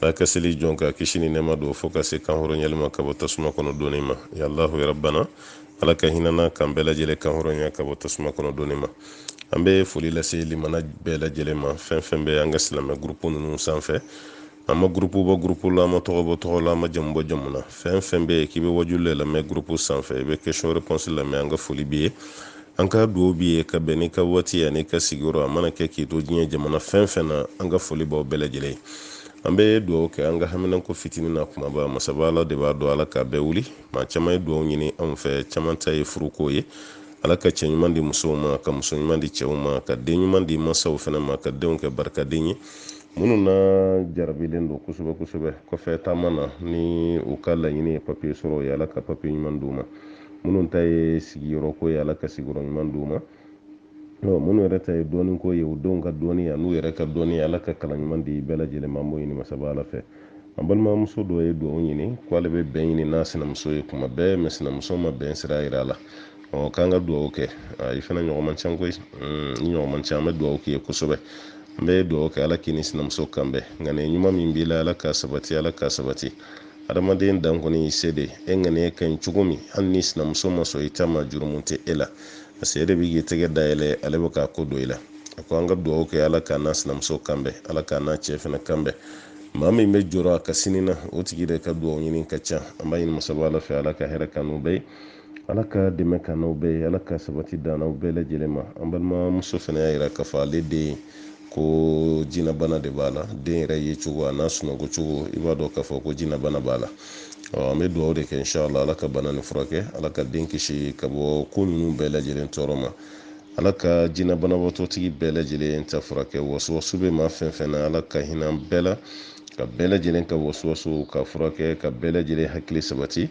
n'a ka seli jɔn ka kisi ni nɛma don fo ka se kanhɔrɔnyali ma ka bɔ tasuma kɔnɔ donni ma ya alahu ya rabbana ala ka hinɛ an na k'an bɛɛ lajɛlen kanhɔrɔnya ka bɔ tasuma kɔnɔ donni ma an bɛ foli lase limana bɛɛ lajɛlen ma fɛn fɛn bɛ an ka silamɛ gurupu ninnu sanfɛ an ma gurupu bɔ gurupu la an ma tɔgɔ bɔ tɔgɔ la an ma jamu bɔ jamu na fɛn fɛn bɛ yen k'i bɛ wajuli le lamɛn gurupu sanfɛ i bɛ question réponse lamɛn an ka foli b'i ye an ka dugawu b'i ye ka bɛn n'i ka waati an'i ka sigiyɔrɔ a mana kɛ k'i to diɲɛ jamana fɛn fɛn na an ka foli b'aw bɛɛ lajɛlen an bɛ dugawu kɛ an ka haminanko fitini n'a kumaba masaba ala de b'a dɔn ala k'a bɛɛ wuli maa caman ye dugawu ɲini anw fɛ caman ta ye furuko ye ala ka cɛ ɲuman di musow ma ka muso ɲuman di cɛw ma ka den ɲuman di mansaw fana ma ka denw kɛ barikaden ye minnu na jarabilen don kosɛbɛ kosɛbɛ kɔfɛ taama na ni u ka laɲini ye papiye sɔrɔ ye ala ka papiye ɲuman di u ma minnu ta ye sigiyɔrɔ ko ye ala ka sigiyɔrɔ ɲuman d'u ma minnu yɛrɛ ta ye dɔnni ko ye u denw ka dɔnni an'u yɛrɛ ka dɔnni ala ka kalan ɲuman di bɛɛ lajɛlen ma b'o ɲini masaba ala fɛ an balimamuso dɔ ye dugawu ɲini k'ale bɛ bɛn ɲini n'a sinamuso ye kuma bɛɛ mais sinamuso ma bɛn sira yira a la ɔ k'an ka dugawu kɛ i fana ɲɔgɔn man ca koyi ni ɲɔgɔn man ca an bɛ dugawu k'i ye kosɛbɛ n bɛ dugawu kɛ ala k'i ni sinamuso kan bɛn ŋaniya ɲuman min b'i la ala k'a sabati ala k'a sabati adamaden dan kɔni y'i se de e ŋaniya ka ɲi cogo min hali ni sinamuso ma sɔn i ta ma jurumu tɛ e la parce que e de bɛ k'i tɛgɛ dayɛlɛ ale bɛ k'a kɔ don i la a ko an ka dugawu kɛ ala k'a n'a sinamuso kanbɛn ala k'a n'a cɛ fana kanbɛn maa min bɛ jɔrɔ a ka sini na o tigi de ka dugawu ɲini ka ca an b'a ɲini masaba ala fɛ ala ka hɛrɛ k'an n'u bɛɛ ala ka dɛmɛ k'an n'aw bɛɛ ye ala ka sabati d'an n'aw bɛɛ lajɛlen ma an balimamuso fana y'a yira k'a fɔ ale den ko jinabana de b'a la den yɛrɛ ye cogo an'a sunɔgɔ cogo i b'a dɔn k'a fɔ ko jinabana b'a la an bɛ dugawu de kɛ inshala ala ka bana nin furakɛ ala ka den kisi ka bɔ ko ninnu bɛɛ lajɛlen tɔɔrɔ ma ala ka jinɛ banabaatɔtigi bɛɛ lajɛlen ta furakɛ wasuwasu bɛ maa fɛn fɛn na ala ka hinɛ bɛɛ la ka bɛɛ lajɛlen ka wasuwasu ka furakɛ ka bɛɛ lajɛlen hakili sabati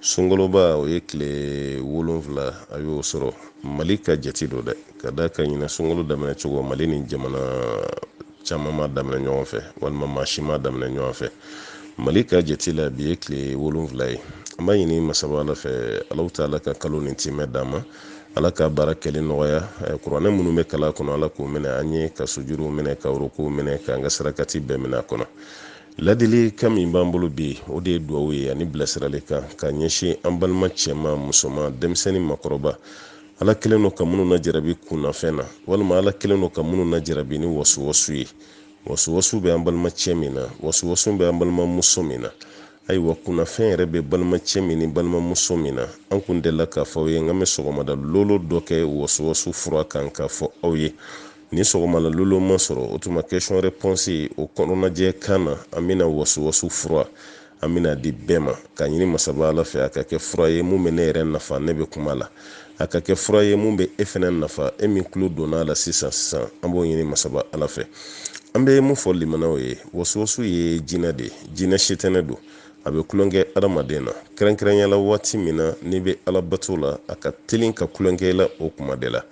sunkaloba o ye tile wolonfila a y'o sɔrɔ mali ka jate don dɛ ka d'a kan ɲinan sunkalo daminɛ cogo mali ni jamana caman m'a daminɛ ɲɔgɔn fɛ walima maa si m'a daminɛ ɲɔgɔn fɛ mali ka jate la bi ye tile wolonfila ye an b'a ɲini masaba ala fɛ alahu ta'ala ka kalo nin timɛ d'an ma ala ka baara kɛli nɔgɔya eh, kuranɛ minnu bɛ kalan a kɔnɔ ala k'o minɛ an ye ka sujuruw minɛ ka rukuw minɛ k'an ka sarakati bɛɛ minɛ a kɔnɔ Ladilikan min b'an bolo bi o de ye duwawu ye ani bilasirali kan ka ɲɛsin an balima cɛman musoman denmisɛnnin makɔrɔba ala kɛlen don ka minnu na jarabi kunnafɛn na walima ala kɛlen don ka minnu na jarabi ni wasuwasu ye wasuwasu bɛ an balima cɛ min na wasuwasu bɛ an balima muso min na ayiwa kunnafɛn yɛrɛ bɛ balima cɛ min ni balima muso min na an kun delila k'a fɔ aw ye n k'a bɛ sɔgɔmada lolo dɔ kɛ wasuwasu fura kan k'a fɔ aw ye Ni sɔgɔmana lolo ma sɔrɔ o tuma question réponse o kɔnɔnajɛ kan na an bɛna wasuwasu fura an bɛn'a di bɛɛ ma k'a ɲini masaba ala fɛ a ka kɛ fura ye mun bɛ ne yɛrɛ nafa ne bɛ kuma la a ka kɛ fura ye mun bɛ e fana nafa e min tulo donna a la sisan sisan an b'o ɲini masaba ala fɛ an bɛ mun fɔ limanaw ye wasuwasu ye jinɛ de ye jinɛ setɛnɛ don a bɛ tulonkɛ adamaden na kɛrɛnkɛrɛnya la waati min na n'i bɛ ala bato la a ka telin ka tulonkɛ la o tuma de la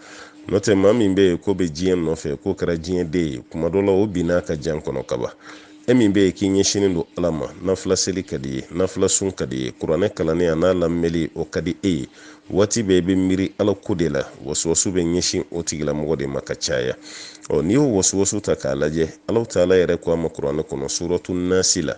n'o tɛ maa min bɛ yen k'o bɛ diɲɛ nɔfɛ k'o kɛra diɲɛ den ye tuma dɔ la o binn'a ka jan kɔnɔ kaban e min bɛ yen k'i ɲɛsinnen don ala ma nafila seli ka d'i ye nafila sun ka d'i ye kuranɛ kalanni an'a lamɛnli o ka di e ye waati bɛɛ i bɛ miiri ala ko de la wasuwasu bɛ ɲɛsin o tigilamɔgɔ de ma ka caya ɔ n'i y'o wasuwasu ta k'a lajɛ alahu taala yɛrɛ ko a ma kuranɛ kɔnɔ suratu nasi la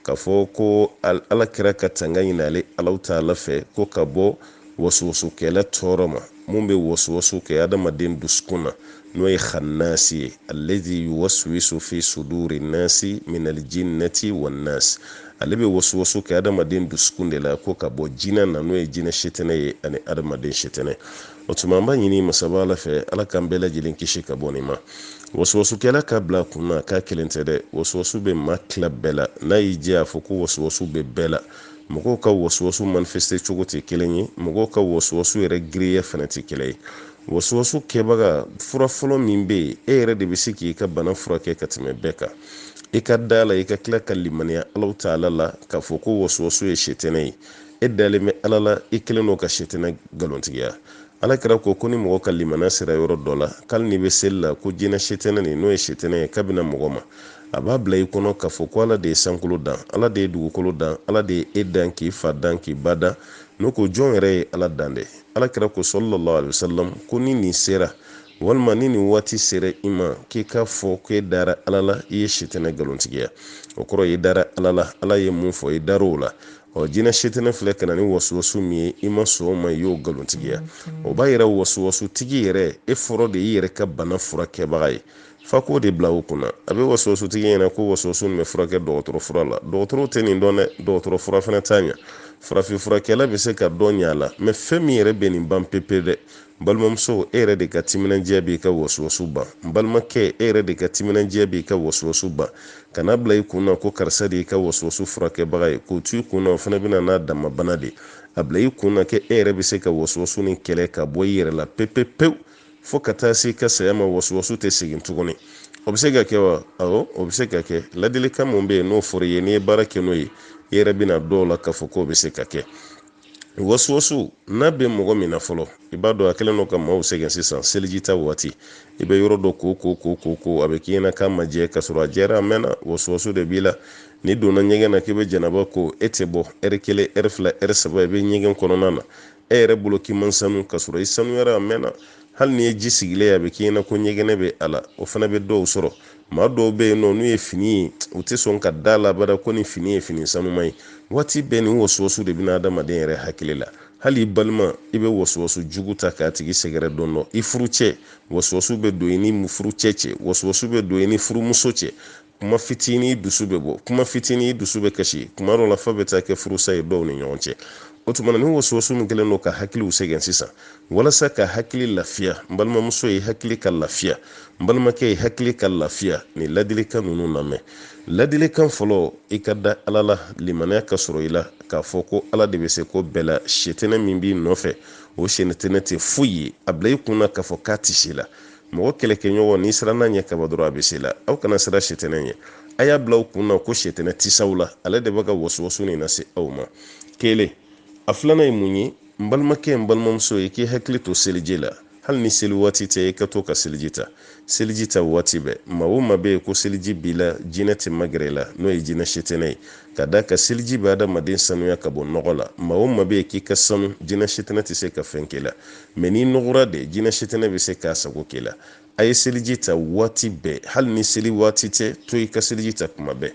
k'a fɔ ko ala kira ka tanga ɲini ale alahu taala fɛ ko ka bɔ wasuwasukɛla tɔɔrɔ ma mun bɛ wasuwasu kɛ adamaden dusukun na n'o ye xannasi ye allazi yuwaswisu fi suduri nasi minal jinnati wannas ale bɛ wasuwasu kɛ adamaden dusukun de la ko ka bɔ jinɛ na n'o ye jinɛ setɛnɛ ye ani adamaden setɛnɛ o tuma an b'a ɲini masaba ala fɛ ala k'an bɛɛ lajɛlen kisi ka bɔ nin ma wasuwasukɛla k'a bila kun na k'a kelen tɛ dɛ wasuwasu bɛ maa tila bɛɛ la n'a y'i diya a fɔ ko wasuwasu bɛ bɛɛ la mɔgɔw ka wasuwasu manifeste cogo tɛ kelen ye mɔgɔw ka wasuwasu yɛrɛ girinya fana tɛ kelen ye wasuwasu kɛbaga fura fɔlɔ min bɛ yen e yɛrɛ de bɛ se k'i ka bana furakɛ ka tɛmɛ bɛɛ kan i ka da a la i ka tila ka limaniya alahu taala la k'a fɔ ko wasuwasu ye setɛnɛ ye e dalen bɛ ala la i kɛlen don ka setɛnɛ nkalontigiya ala kira ko ko ni mɔgɔ ka limaniya sera yɔrɔ dɔ la k'ali n'i bɛ seli la ko jinɛ setɛnɛ nin n'o ye setɛnɛ ye k'a bɛ na mɔgɔ ma a b'a bila i kɔnɔ k'a fɔ ko ala de ye sankolo dan ala de ye dugukolo dan ala de ye e dan k'i fa dan k'i ba dan n'o ko jɔn yɛrɛ ye ala dan dɛ ala kira ko salalahu alayihi wasalam ko ni nin sera walima ni nin waati sera i ma k'i k'a fɔ k'e dara ala la i ye setɛnɛ nkalontigiya o kɔrɔ y'i dara ala la ala ye mun fɔ i dar'o la ɔ jinɛ setɛnɛ filɛ ka na ni wasuwasu min ye i ma sɔn o ma i y'o nkalontigiya o b'a yira wasuwasu tigi yɛrɛ e fɔlɔ de y'i yɛrɛ ka bana furakɛbaga ye f'a k'o de bila o kunna a bɛ wasuwasu tigi ɲɛ na ko wasuwasu nin bɛ furakɛ dɔgɔtɔrɔ fura la dɔgɔtɔrɔw tɛ nin dɔn dɛ dɔgɔtɔrɔ fura fana t'a ɲa farafin furakɛla bɛ se ka dɔ ɲa a la mais fɛn min yɛrɛ bɛ nin ban pepe dɛ n balimamuso e yɛrɛ de ka timinandiya b'i ka wasuwasu ban n balimakɛ e yɛrɛ de ka timinandiya b'i ka wasuwasu ban kan'a bila i kun na ko karisa de y'i ka wasuwasu furakɛbaga ye k'o to i kun na o fana bɛ na n'a dama bana de a bila i kun na k'e yɛrɛ bɛ se ka wasuwasu nin kɛlɛ ka bɔ i yɛrɛ la pepepewu fo ka taa se i ka saya ma wasuwasu tɛ segin tuguni o bɛ se ka kɛ wa awɔ o bɛ se ka kɛ ladilikan mun bɛ yen n'o fɔra i ye n'i ye baara kɛ n'o ye i yɛrɛ bɛna d'o la k'a fɔ k'o bɛ se ka kɛ wasuwasu n'a bɛ mɔgɔ min na fɔlɔ i b'a dɔn a kɛlen don ka maaw sɛgɛn sisan seliji ta waati i bɛ yɔrɔ dɔ ko ko ko ko ko a bɛ k'i ɲɛna k'a ma jɛ ka sɔrɔ a jɛra a mɛnna wasuwasu de b'i la n'i donna ɲɛgɛn na k'i bɛ janaba ko e tɛ bɔ ɛri kelen ɛri fila ɛri saba i bɛ ɲɛgɛn kɔnɔna na e yɛrɛ bolo k'i man sanu ka sɔrɔ i sanuyara a mɛnna hali n'i ye ji sigilen ye a bɛ k'i ɲɛna ko ɲɛgɛnɛ bɛ a la o fana bɛ dɔw sɔrɔ maa dɔw bɛ yen nɔ n'u ye fini ye u tɛ sɔn ka d'a la abada ko nin fini ye fini sanuman ye waati bɛɛ nin wasuwasu de bɛ na adamaden yɛrɛ hakili la hali i balima i bɛ wasuwasu jugu ta k'a tigi sɛgɛrɛ dɔn dɔ i furucɛ wasuwasu bɛ don i ni furucɛ cɛ wasuwasu bɛ don i ni furumuso cɛ kuma fitinin dusu bɛ bɔ kuma fitinin dusu bɛ kasi kuma dɔ la f'a bɛ taa kɛ furusa ye dɔw ni ɲɔgɔn cɛ o tuma na nin wasuwasu min kɛlen don ka hakiliw sɛgɛn sisan walasa ka hakili lafiya n balimamuso e hakili ka lafiya n balimakɛ e hakili ka lafiya nin ladilikan ninnu lamɛn ladilikan fɔlɔ i ka da ala la limaniya ka sɔrɔ i la k'a fɔ ko ala de bɛ se ko bɛɛ la setɛnɛ min b'i nɔfɛ o setɛnɛ tɛ foyi ye a bila i kun na k'a fɔ k'a tɛ se i la mɔgɔ kɛlɛkɛɲɔgɔn n'i sirana a ɲɛ kaban dɔrɔn a bɛ se i la aw kana sira setɛnɛ ɲɛ a y'a bila aw kun na ko setɛnɛ tɛ s'aw la ale de bɛ ka wasuwasu nin lase aw ma kelen a filanan ye mun ye n balimakɛ n balimamuso e k'i hakili to seliji la hali ni seli waati tɛ i ka to ka seliji ta seliji ta waati bɛɛ maa o maa bɛ yen ko seliji b'i la jinɛ tɛ magɛrɛ i la n'o ye jinɛ setɛnɛ ye ka d'a kan seliji bɛ adamaden sanuya ka bɔ nɔgɔ la maa o maa bɛ yen k'i ka sanu jinɛ setɛnɛ tɛ se ka fɛn k'i la mɛ n'i nɔgɔra de jinɛ setɛnɛ bɛ se k'a sago k'i la a ye seliji ta waati bɛɛ hali ni seli waati tɛ to i ka seliji ta kuma bɛɛ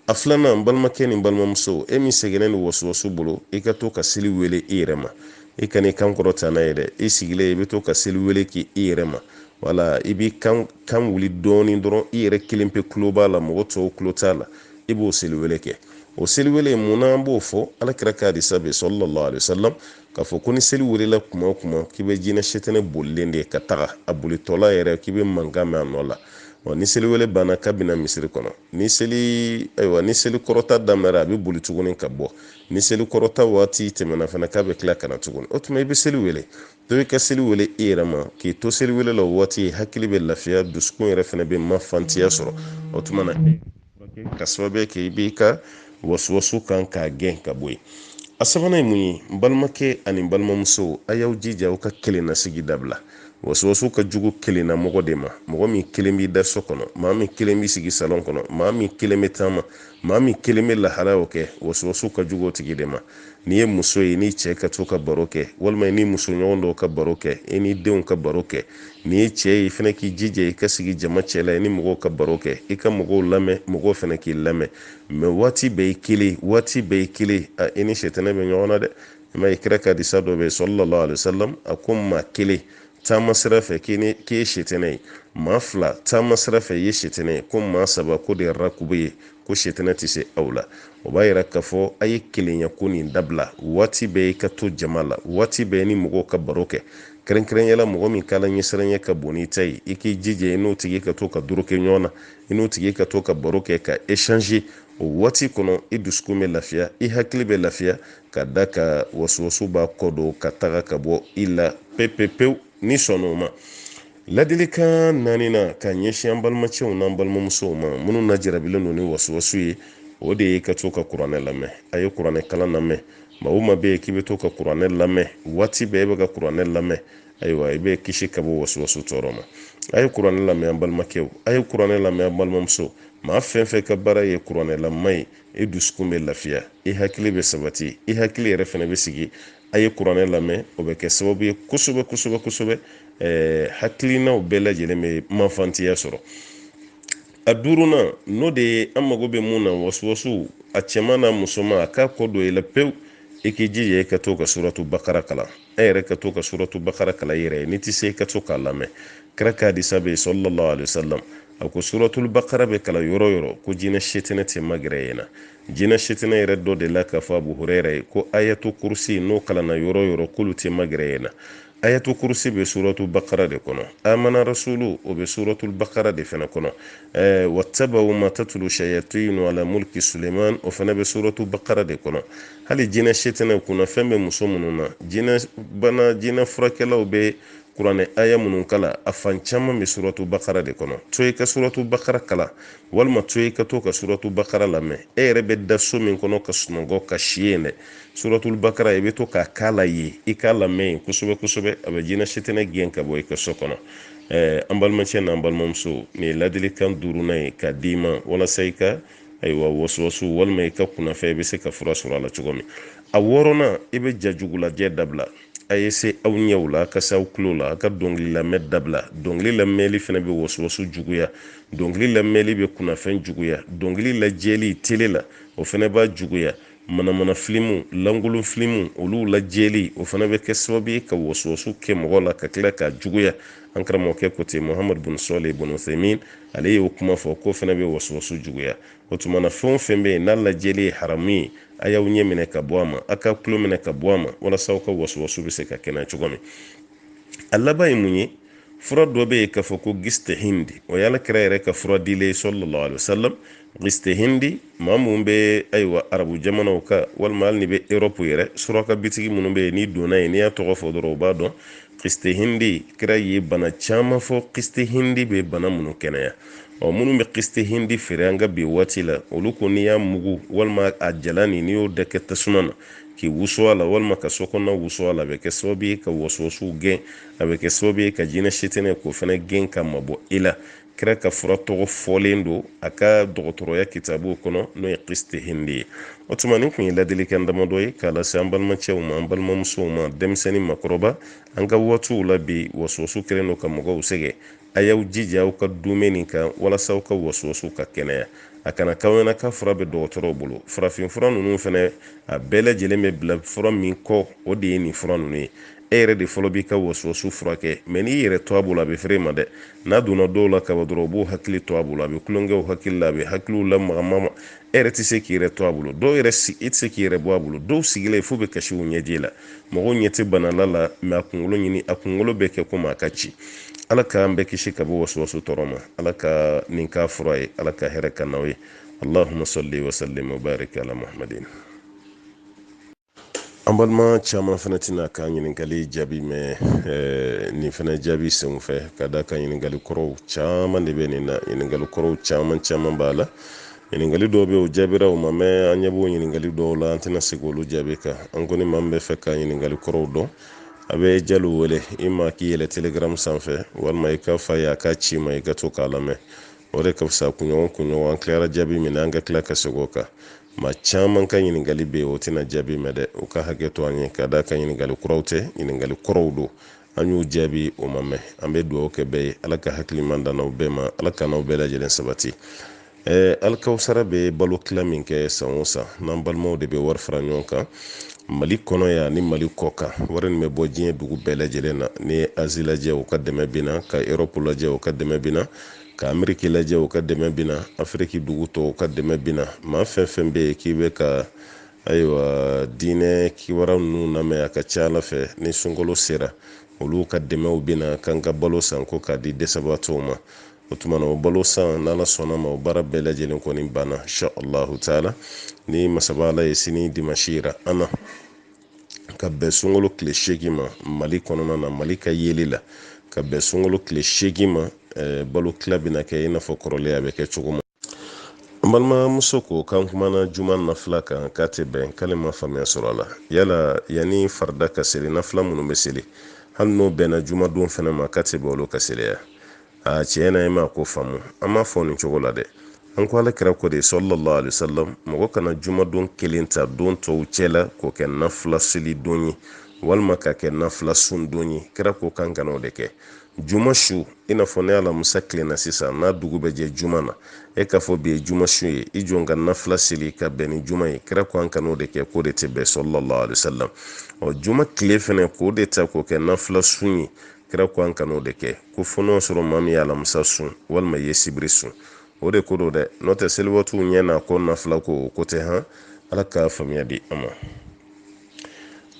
a filanan n balimakɛ ni n balimamuso e min sɛgɛnnen don wasuwasu bolo i ka to ka seli wele i yɛrɛ ma i kan'i kan kɔrɔta n'a ye dɛ i sigilen i bɛ to ka seli wele k'i yɛrɛ ma wala i b'i kan kan wuli dɔɔnin dɔrɔn i yɛrɛ kelen pe tulo b'a la mɔgɔ tɔw tulo t'a la i b'o seli wele kɛ o seli wele mun na an b'o fɔ ala kira ka hadisa bɛ sallallahu alaihi wasallam k'a fɔ ko ni seli welela kuma o kuma k'i bɛ jinɛ setɛnɛ bolilen de ka taga a bolitɔla yɛrɛ k'i bɛ mankan mɛn a nɔ la wa ni seli wele banna k'a bɛ na misiri kɔnɔ ni seli ayiwa ni seli kɔrɔta daminɛra a bɛ boli tuguni ka bɔ ni seli kɔrɔta waati tɛmɛna fana k'a bɛ tila ka na tuguni o tuma i bɛ seli wele to i ka seli wele i yɛrɛ ma k'i to seli wele la o waati hakili bɛ lafiya dusukun yɛrɛ fana bɛ mafantiya sɔrɔ o tuma na ka sababu kɛ i b'i ka wasuwasu kan k'a gɛn ka bɔ yen a sabanan ye mun ye n balimakɛ ani n balimamuso a y'aw jija aw ka kelennasigi dabila wasuwasu ka jugu kelenna mɔgɔ de ma mɔgɔ min kelen b'i da so kɔnɔ maa min kelen b'i sigi salɔn kɔnɔ maa min kelen bɛ taama maa min kelen bɛ lahalaw kɛ wasuwasu ka jugu o tigi de ma n'i ye muso ye n'i cɛ ka to ka baro kɛ walima i ni musoɲɔgɔn dɔw ka baro kɛ i ni denw ka baro kɛ n'i ye cɛ ye i fana k'i jija i ka sigi jama cɛla i ni mɔgɔw ka baro kɛ i ka mɔgɔw lamɛn mɔgɔw fana k'i lamɛn mais waati bɛɛ i kelen waati bɛɛ i kelen a i ni setɛnɛ bɛ ɲɔgɔn na dɛ i ma kira ka hadisa dɔ mɛn sallallahu alaihi wasallam a ko maa kelen taama sira fɛ k'i ni k'i ye setɛnɛ ye maa fila taama sira fɛ i ye setɛnɛ ye ko maa saba k'o de ye rakubu ye ko setɛnɛ tɛ se aw la o b'a yira k'a fɔ a ye kelenya ko nin dabila waati bɛɛ i ka to jama la waati bɛɛ ni mɔgɔw ka baro kɛ kɛrɛnkɛrɛnya la mɔgɔ min k'ala ɲɛsiranya ka bon n'i ta ye i k'i jija i n'o tigi ka to ka doroko ɲɔgɔn na i n'o tigi ka to ka baro kɛ ka échanger o waati kɔnɔ i dusukun bɛ lafiya i hakili bɛ lafiya ka d'a kan wasuwasu b'a kɔ don ka taga ka bɔ i la pepepewu n'i sɔnna o ma ladilikan naaninan ka ɲɛsin an balimacɛw n'an balimamusow ma minnu najarabilen don ni wasuwasu ye o de ye ka to ka kuranɛ lamɛn a ye kuranɛ kalan lamɛn maa o maa bɛ yen k'i bɛ to ka kuranɛ lamɛn waati bɛɛ e bɛ ka kuranɛ lamɛn ayiwa i bɛ kisi ka bɔ wasuwasu tɔɔrɔ ma a ye kuranɛ lamɛn an balimakɛw a ye kuranɛ lamɛn an balimamuso maa fɛn fɛn ka baara ye kuranɛ lamɛn ye i dusukun bɛ lafiya i hakili bɛ sabati i hakili yɛrɛ fana bɛ sigi a ye kuranɛ lamɛn o bɛ kɛ sababu ye kosɛbɛ kosɛbɛ kosɛbɛ eh, hakilinaw bɛɛ lajɛlen bɛ manfantiya sɔrɔ a duurunan n'o de ye an mago bɛ mun na wasuwasuw a cɛman n'a musoman a k'a kɔ don i la pewu i k'i jija i ka to ka suratu bakara kalan e yɛrɛ ka to ka suratu bakara kalan i yɛrɛ ye n'i tɛ se ka to k'a lamɛn kira ka hadisa bɛ yen sallallahu alaihi wasallam a ko suratul bakara bɛ kalan yɔrɔ yɔrɔ ko jinɛ setɛnɛ tɛ magɛrɛ yen na jinɛ setɛnɛ yɛrɛ dɔ delila k'a fɔ abu hurɛra ye ko ayatu kurusi n'o kalanna yɔrɔ yɔrɔ k'olu tɛ magɛrɛ yen na ayatu kurusi bɛ suratu bakara de kɔnɔ amana rasulu o bɛ suratul bakara de fana kɔnɔ ɛɛ wattabawu ma tatulu shayatinu ala mulki suleman o fana bɛ suratu bakara de kɔnɔ hali jinɛ setɛnɛ kunnafɛn bɛ muso minnu na jinɛ bana jinɛ furakɛlaw bɛ kuranɛ aya minnu kalan a fan caman bɛ suratu bakara de kɔnɔ to i ka suratu bakara kalan walima to i ka to ka suratu bakara lamɛn e yɛrɛ bɛ da so min kɔnɔ ka sunɔgɔ ka si yen dɛ suratul bakara i bɛ to k'a kalan yen i k'a lamɛn yen kosɛbɛ kosɛbɛ a bɛ jinɛ setɛnɛ gɛn ka bɔ i ka so kɔnɔ an balimacɛ n'an balimamuso nin ye ladilikan duurunan ye k'a d'i ma walasa i ka ayiwa wasuwasu walima i ka kunnafɛn i bɛ se ka fura sɔrɔ a la cogo min a wɔɔrɔnan i bɛ jajugulajɛ dabila a ye se aw ɲɛw la a ka se aw tulo la a ka dɔnkili lamɛn dabila dɔnkili lamɛnli fana bɛ wasuwasu juguya dɔnkili lamɛnli bɛ kunnafɛn juguya dɔnkili lajɛli tele la o fana b'a juguya Manamana filimu, lankolon filimu, olu lajɛli, o fana bɛ kɛ sababu ye ka wasuwasu kɛ mɔgɔ la ka tila k'a juguya. An karamɔgɔkɛ ko ten, Mohamadu bin Sɔlih bin Uthaymin, ale y'o kuma fɔ, k'o fana bɛ wasuwasu juguya. O tuma na, fɛn o fɛn bɛ yen n'a lajɛli ye haramu ye, a y'aw ɲɛ minɛ ka bɔ a ma, a k'a tulo minɛ ka bɔ a ma, walasa aw ka wasuwasu bɛ se ka kɛnɛya cogo min. A laban ye mun ye? Fura dɔ bɛ yen k'a fɔ ko kiste Hindi, o ye Ala kira yɛrɛ ka fura dilen ye, sallallahu alayhi wa sallam. kiste hindi maa minnu bɛ ayiwa arabu jamanaw kan walima hali n'i bɛ europe yɛrɛ suraka bitigi minnu bɛ yen n'i donna yen n'i y'a tɔgɔ fɔ dɔrɔn u b'a dɔn kiste hindi kira ye bana caman fɔ kiste hindi bɛ bana minnu kɛnɛya ɔ minnu bɛ kiste hindi feere an ka bi waati la olu ko n'i y'a mugu walima a jalan n'i y'o dɔ kɛ tasuma na k'i wusu a la walima ka so kɔnɔna wusu a la a bɛ kɛ sababu ye ka wasuwasu gɛn a bɛ kɛ sababu ye ka jinɛ sitanɛ k'o fana gɛn ka mabɔ i la kira ka fura tɔgɔ fɔlen don a ka dɔgɔtɔrɔya kitabuw kɔnɔ n'o ye kiste hindi ye o tuma nin kun ye ladilikan damadɔ ye k'a lase an balimacɛw ma an balimamusow ma denmisɛn ni maakɔrɔba an ka waatiw la bi wasuwasu kɛlen don ka mɔgɔw sɛgɛn a y'aw jija aw ka dume nin kan walasa aw ka wasuwasu ka kɛnɛya a kana k'aw ɲɛna k'a fura bɛ dɔgɔtɔrɔw bolo farafinfura ninnu fɛnɛ a bɛɛ lajɛlen bɛ bila fura min kɔ o de ye nin fura ninnu ye e yɛrɛ de fɔlɔ b'i ka wasuwasu furakɛ mɛ n'i yɛrɛ to a bolo a bɛ fere ma dɛ n'a donna dɔw la kaban dɔrɔn u b'u hakili to a bolo a bɛ tulon kɛ u hakili la a bɛ hakiliw lamagamaga e yɛrɛ tɛ se k'i yɛrɛ to a bolo dɔw yɛrɛ si e tɛ se k'i yɛrɛ bɔ a bolo dɔw sigilen fo bɛ kasi u ɲɛji la mɔgɔw ɲɛ tɛ bana l'a la mɛ a kunkolo nin a kunkolo bɛ kɛ komi a ka ci ala k'an bɛɛ kisi ka bɔ wasuwasu tɔɔrɔ ma ala ka nin k'a fura ye ala ka hɛrɛ k'an n'aw ye allahumma salli wa sallim wa barik ala muhammadin an balima caman fana tɛn'a ka ɲininkali jaabi mɛn eh, nin fana jaabi sen fɛ ka d'a kan ɲininkali kɔrɔw caman de bɛ nin na ɲininkali kɔrɔw caman caman b'a la ɲininkali dɔw bɛ o jaabira o ma mɛn an ɲɛ b'o ɲininkali dɔw la an tɛna se k'olu jaabi kan an kɔni maa min b'a fɛ ka ɲininkali kɔrɔw dɔn a bɛ jalo wele i ma k'i yɛlɛn telegram sanfɛ walima i k'a f'a ye a k'a ci i ma i ka to k'a lamɛn o de ka fisa kunɲɔgɔn kunɲɔgɔn an tilara jaabi min na an ka tila ka segin o kan maa caman ka ɲininkali bɛ yen o tɛna jaabi mɛn dɛ u ka hakɛ to an ye ka d'a kan ɲininkali kuraw tɛ ɲininkali kɔrɔw don an y'u jaabi o ma mɛn an bɛ dugawu kɛ bɛɛ ye ala ka hakili ɲuman d'an n'aw bɛɛ ma ala k'an n'aw bɛɛ lajɛlen sabati ɛɛ alikawusara bɛ balo tila min kɛ san o san n'an balimaw de bɛ wari fara ɲɔgɔn kan mali kɔnɔ yan ni mali kɔkan wari nin bɛ bɔ diɲɛ dugu bɛɛ lajɛlen na n'i ye azi lajɛ u ka dɛmɛ bɛ na ka erɔpu lajɛ u ka dɛmɛ bɛ na ka ameriki lajɛ o ka dɛmɛ bina afiriki dugu tɔw ka dɛmɛ bina maa fɛn fɛn bɛ yen k'i bɛ ka ayiwa diinɛ kibaruya ninnu lamɛn a ka ca ala fɛ ni sunkalo sera olu ka dɛmɛw bina k'an ka balo san ko k'a di dɛsɛbaatɔw ma o tuma na o balo san n'ala sɔnna ma o baara bɛɛ lajɛlen kɔni banna insha allahu taala ni masaba ala ye sini dimasi yira an na ka bɛn sunkalo tile seegin ma mali kɔnɔna na mali ka yeli la ka bɛn sunkalo tile seegin ma eh, balo tila bɛna kɛ i n'a fɔ kɔrɔlen a bɛ kɛ cogo min an balimamuso ko k'an kumana juma nafila kan k'a tɛ bɛn k'ale ma faamuya sɔrɔ a la yala yanni farida ka seli nafila minnu bɛ seli hali n'o bɛnna jumadon fana ma k'a tɛ bɛn olu ka seli wa a tiɲɛ na e ma ko faamu an m'a fɔ nin cogo la dɛ an ko ala kira ko de sallallahu alaihi wasallam mɔgɔ kana juma don kelen ta don tɔw cɛ la k'o kɛ nafila seli don ye walima k'a kɛ nafila sun don ye kira ko k'an kana o de kɛ juma su i n'a fɔ ni alamusa tilenna sisan n'a dugu bɛ jɛ juma na e k'a fɔ bi ye juma su ye i jɔ ka nafila seli ka bɛn ni juma ye kira ko an kan'o de kɛ k'o de tɛ bɛn sallallahu alaihi wasallam ɔ juma tile fɛnɛ k'o de ta k'o kɛ nafila sun ye kira ko an kan'o de kɛ ko fo n'o sɔrɔ maa min ye alamisa sun walima ye sibiri sun o de ko don dɛ n'o tɛ seli waatiw ɲɛ n'a kɔ nafila ko o ko tɛ han ala ka faamuya di an ma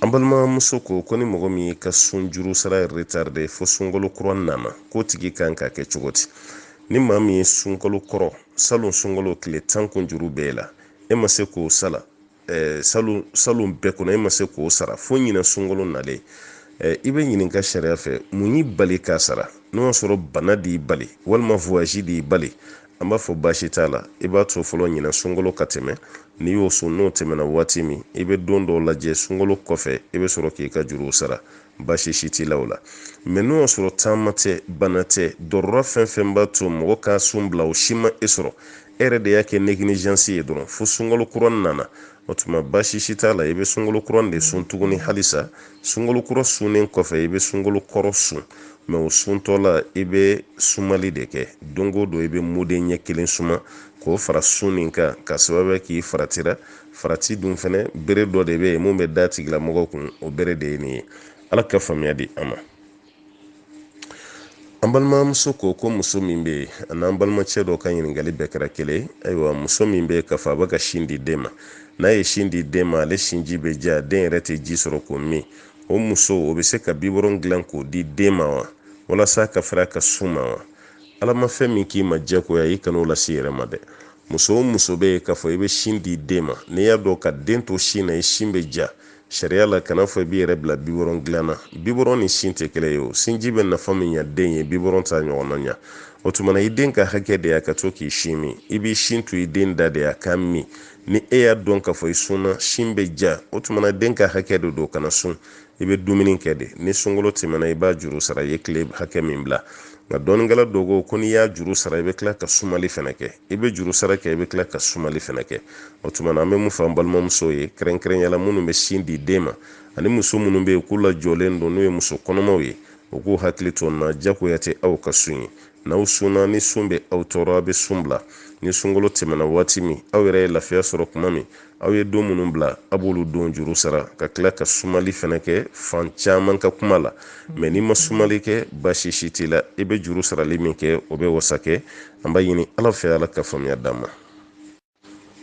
an balimamuso ko ko ni mɔgɔ min y'i ka sun juru sara retarde fo sunkalo kura nana k'o tigi kan k'a kɛ cogo di ni maa min ye sunkalo kɔrɔ salon sunkalo tile tan sun juru b'e la e ma se k'o sara eh, salon salon bɛɛ kɔnɔ e ma se k'o sara fo ɲinan sunkalo nalen eh, i bɛ ɲininka sariya fɛ mun y'i bali k'a sara n'o y'a sɔrɔ bana de y'i bali walima voyage de y'i bali an b'a fɔ baasi t'a la i b'a to fɔlɔ ɲinan sunkalo ka tɛmɛ n'i y'o sun n'o tɛmɛna waati min i bɛ don dɔw lajɛ sunkalo kɔfɛ i bɛ sɔrɔ k'i ka juruw sara baasi si t'i la o la mɛ n'o y'a sɔrɔ taama tɛ bana tɛ darura fɛn fɛn b'a to mɔgɔ ka sun bila o si ma e sɔrɔ e yɛrɛ de y'a kɛ négligence ye dɔrɔn fo sunkalo kura nana o tuma baasi si t'a la i bɛ sunkalo kura de sun tuguni halisa sunkalo kura sunnen kɔfɛ i bɛ sunkalo kɔrɔ sun mɛ o suntɔ la i bɛ sumali de kɛ don o don i bɛ mudɛ ɲɛ kelen suma k'o fara sun nin kan ka sababu k'i faratira farati dun fɛnɛ bere dɔ de bɛ yen mun bɛ d'a tigilamɔgɔ kun o bere de ye nin ye ala ka faamuya di an ma an balimamuso ko ko muso min bɛ yen ani an balimacɛ dɔ ka ɲininkali bɛɛ kɛra kelen ayiwa muso min bɛ yen k'a fɔ a bɛ ka sin di den ma n'a ye sin di den ma ale sinji bɛ ja den yɛrɛ tɛ ji sɔrɔ k'o min o muso o bɛ se ka biberon dilan k'o di den ma wa walasa ka fara ka sun ma wa ala ma fɛn min k'i ma jagoya i kan'o lase i yɛrɛ ma dɛ muso o muso bɛ yen k'a fɔ i bɛ sin di den ma n'i y'a dɔn ka den to sin na i sin bɛ ja sariya la kana fɔ i b'i yɛrɛ bila bibɔrɔn dilan na bibɔrɔn ni sin tɛ kelen ye o sinji bɛ nafa min ɲa den ye bibɔrɔn t'a ɲɔgɔnna ɲa o tuma na i den ka hakɛ de y'a ka to k'i sin min i b'i sin to i den da de y'a k'a min ni e y'a dɔn k'a fɔ i sunna sin bɛ ja o tuma na den ka hakɛ de don kana sun i bɛ dumuni kɛ de ni sunkalo tɛmɛna i b'a juru sara i ye tile hakɛ min bila nka dɔnnikɛla dɔw ko ko n'i y'a juru sara i bɛ tila ka sumali fɛnɛ kɛ i bɛ juru sara kɛ i bɛ tila ka sumali fɛnɛ kɛ o tuma na an bɛ mun fɔ an balimamuso ye kɛrɛnkɛrɛnyala minnu bɛ sin di den ma ani muso minnu bɛ yen k'u lajɔlen don n'o ye muso kɔnɔmaw ye u k'u hakili to nin na jagoya tɛ aw ka sun ye n'aw sunna ni sun bɛ aw tɔɔrɔ a bɛ sun bila ni sunkalo tɛmɛna waati min aw yɛrɛ ye lafiya sɔrɔ tuma min aw ye don minnu bila a b'olu don juru sara ka tila ka sumali fɛnɛ kɛ fan caman ka kuma la mɛ n'i ma sumali kɛ baasi si t'i la i bɛ juru sarali min kɛ o bɛ wasa kɛ an b'a ɲini ala fɛ ala ka faamuya d'an ma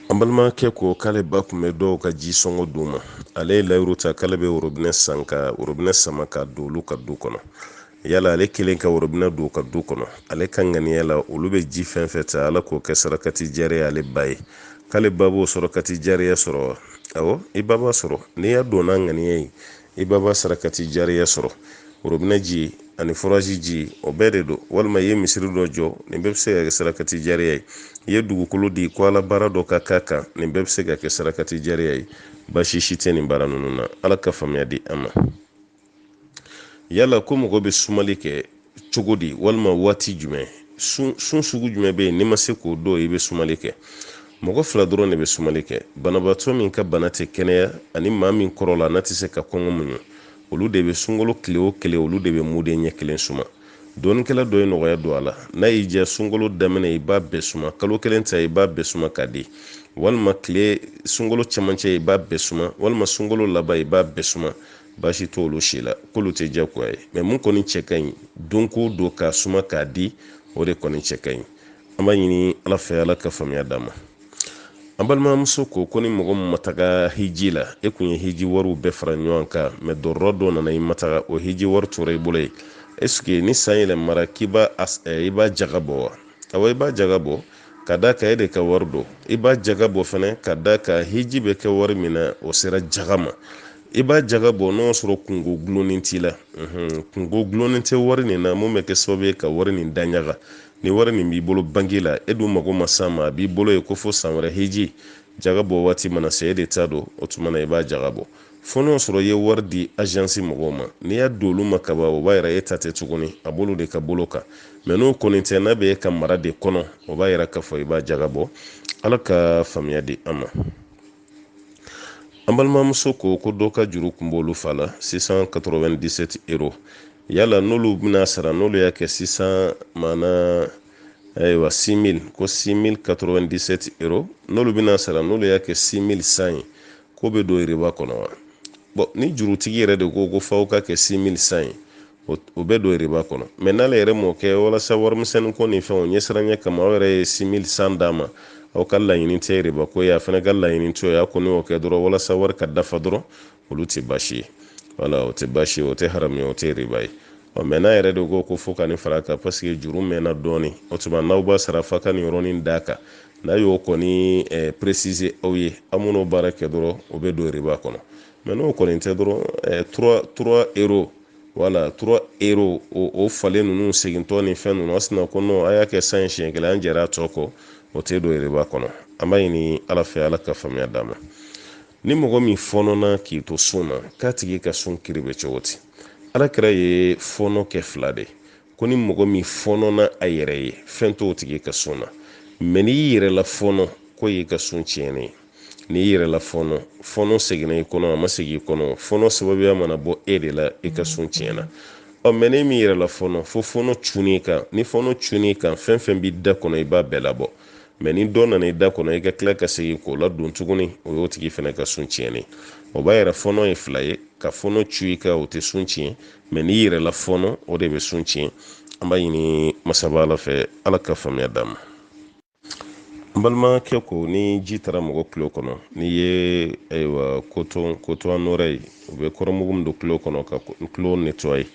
an balimakɛ ko k'ale ba kun bɛ dɔw ka ji sɔngɔ d'u ma ale ye layiru ta k'ale bɛ worobinɛ san ka worobinɛ sama ka don olu ka du kɔnɔ yala ale kɛlen ka worobinɛ don ka du kɔnɔ ale ka ŋaniya la olu bɛ ji fɛn fɛn ta ala k'o kɛ sarakati jariya ale ba ye k'ale ba b'o sarakati jariya sɔrɔ wa awɔ i ba b'a sɔrɔ n'i y'a don n'a ŋaniya ye i ba b'a sarakati jariya sɔrɔ worobinɛ ji ani foraji ji o bɛɛ de don walima i ye misiri dɔ jɔ nin bɛɛ bɛ se ka kɛ sarakati jariya ye i ye dugukolo di ko ala baara dɔ ka k'a kan nin bɛɛ bɛ se ka kɛ sarakati jariya ye baasi si tɛ nin baara ninnu na ala ka faamuya di an ma yala ko mɔgɔ bɛ sumali kɛ cogo di walima waati jumɛn sun sugu jumɛn bɛ yen n'i ma se k'o don i bɛ sumali kɛ mɔgɔ fila dɔrɔn de bɛ sumali kɛ banabaatɔ min ka bana tɛ kɛnɛya ani maa min kɔrɔla n'a tɛ se ka kɔngɔ muɲu olu de bɛ sunkalo tile o tile olu de bɛ muden ɲɛ kelen suma dɔnnikɛla dɔ ye nɔgɔya don a la n'a y'i diya sunkalo daminɛ i b'a bɛɛ suma kalo kelen ta i b'a bɛɛ suma k'a di walima tile sunkalo cɛmancɛ i b'a bɛɛ suma walima sunkalo laban i b'a bɛɛ suma baasi t'olu si la k'olu tɛ jagoya ye mɛ mun kɔni cɛ ka ɲi don ko don k'a suma k'a di o de kɔni cɛ ka ɲi an b'a ɲini ala fɛ ala ka faamuya d'an ma an balimamuso ko ko ni mɔgɔ min ma taga hiji la e kun ye hiji wariw bɛɛ fara ɲɔgɔn kan mɛ dɔrɔrɔ dɔ nana i ma taga o hiji wari tora i bolo ye esike ni san yɛlɛmara k'i b'a eh, i b'a jaga bɔ wa awɔ i b'a jaga bɔ ka d'a kan e de ka wari don i b'a jaga bɔ fɛnɛ ka d'a kan hiji bɛ kɛ wari min na o sera jaga ma i b'a jaga bɔ n'o sɔrɔ kunko gulonnen t'i la kunko gulonnen tɛ wari nin na mun bɛ kɛ sababu ye ka wari nin daɲaga ni wari nin b'i bolo banki la e dun mago ma s'a ma a b'i bolo ye ko fo san wɛrɛ hiji jaga bɔ waati mana se e de ta don o tuma na i b'a jaga bɔ fo n'o sɔrɔ i ye wari di ajansi mɔgɔw ma n'i y'a don olu ma kaban o b'a yira e ta tɛ tuguni a b'olu de ka bolo kan mɛ n'o kɔni tɛ n'a bɛ e ka mara de kɔnɔ o b'a yira k'a fɔ i b'a jaga bɔ ala ka faamuya di an ma an balimamuso ko ko dɔ ka juru kun b'olu fa la 697 euro yala n'olu bɛna sara n'olu y'a kɛ sisan maana ayiwa 6000 ko 6097 euro n'olu bɛna sara n'olu y'a kɛ 6100 ye k'o bɛ don riba kɔnɔ wa bɔn ni jurutigi yɛrɛ de ko ko f'aw k'a kɛ 6100 ye o bɛ don riba kɔnɔ mɛ n'ale yɛrɛ m'o kɛ walasa warimisɛnnin ko ni fɛnw ɲɛsiranya kama aw yɛrɛ ye 6100 d'a ma aw ka laɲini tɛ riba ko ye a fana ka laɲini t'o ye a kɔni y'o kɛ dɔrɔn walasa wari ka dafa dɔrɔn olu tɛ baasi ye wala o tɛ baasi ye o tɛ haramu ye o tɛ riba ye ɔ mɛ n'a yɛrɛ de ko ko fo ka nin fara kan paseke juru mɛnna dɔɔni o tuma n'aw b'a sara f'aw ka nin yɔrɔnin d'a kan n'a y'o kɔni eh, préciser aw ye aw man'o baara kɛ dɔrɔn o bɛ don riba kɔnɔ mɛ n'o kɔni tɛ dɔrɔn 3 3 euro wala 3 euro o falen ninnu segintɔ ni fɛn ninnu a sinna ko non a y'a kɛ 100 siɲɛ kelen an jɛra a tɔ kɔ o tɛ don riba kɔnɔ an b'a ɲini ala fɛ ala ka faamuya d'an ma ni mɔgɔ min fɔnɔna k'i to sun na k'a tigi ka sun kiri bɛ cogo di alakira ye fɔnɔ kɛ fila de ko ni mɔgɔ min fɔnɔna a yɛrɛ ye fɛn t'o tigi ka sun na mɛ n'i yɛrɛ lafɔnɔ k'o y'i ka sun tiɲɛnen ye n'i yɛrɛ lafɔɔnɔ fɔɔnɔ seginna i kɔnɔ a ma segin i kɔnɔ fɔɔnɔ sababuya mana bɔ e de la i ka sun tiɲɛna ɔ mɛ n'e m'i yɛrɛ lafɔɔnɔ fo fɔɔnɔ cunn'i kan ni fɔɔnɔ cunn'i kan fɛn fɛn b'i da kɔnɔ i b'a bɛɛ labɔ mɛ ni dɔ nana i da kɔnɔ i ka tila ka segin k'o ladon tuguni o y'o tigi fana ka sun tiɲɛnen o b'a yira fɔɔnɔ ye fila ye ka fɔɔnɔ cun i kan o tɛ sun tiɲɛ mɛ n'i yɛrɛ lafɔɔnɔ o de bɛ sun tiɲɛ an b'a ɲini masaba ala fɛ ala ka faamuya d'an ma n balimakɛ ko ni ji taara mɔgɔ kulo kɔnɔ n'i ye ayiwa coton coton d'oreille u bɛ kɔɔrimugu min don kulo kɔnɔ ka kulo nettoyer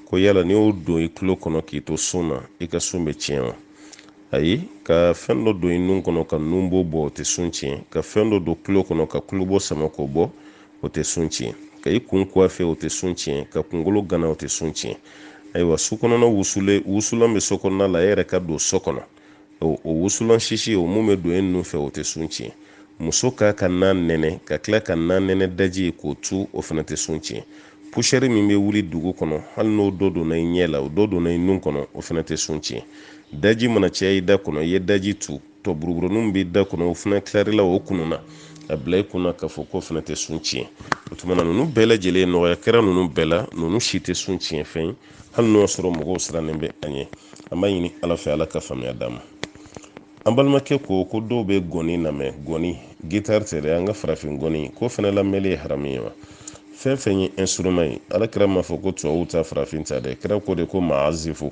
ko yala n'i y'o don i kulo kɔnɔ k'i to sun na i ka sun bɛ tiɲɛ wa ayi ka fɛn dɔ don i nun kɔnɔ ka nunbo bɔ o tɛ sun tiɲɛ ka fɛn dɔ don kulo kɔnɔ ka kulobo sama k'o bɔ o tɛ sun tiɲɛ ka i kun coiffer o tɛ sun tiɲɛ ka kunkolo gana o tɛ sun tiɲɛ ayiwa so kɔnɔna wusulen wusulan bɛ so kɔnɔna la e yɛrɛ ka don so kɔnɔ o wusulan sisi o mun bɛ don e nun fɛ o tɛ sun tiɲɛ muso ka ka na nɛnɛ ka tila ka na nɛnɛ daji k'o tu o fana tɛ sun tiɲɛ pusɛri min bɛ wuli dugu kɔnɔ hali n'o dɔ donna i ɲɛ la o dɔ donna i nun kɔnɔ o fana tɛ sun tiɲɛ daji mana caya i da kɔnɔ i ye daji tu tɔ buruburuninw b'i da kɔnɔ o fana tilarila o kunun na a bila i kunna k'a fɔ k'o fana tɛ sun tiɲɛ o tuma na ninnu bɛɛ lajɛlen nɔgɔya kɛra ninnu bɛɛ la ninnu si tɛ sun tiɲɛ fɛn ye hali n'o y'a sɔrɔ mɔgɔw sirannen bɛ an ye an b'a ɲini ala fɛ ala ka faamuya d'an ma an balimakɛ ko ko dɔw bɛ gɔni lamɛn gɔni gitari tɛ dɛ an ka farafin gɔni k'o fana lamɛnli ye haramu ye wa fɛn fɛn ye instrument ye ala kira m'a fɔ ko tubabuw ta farafin ta dɛ kira ko de ko maazifu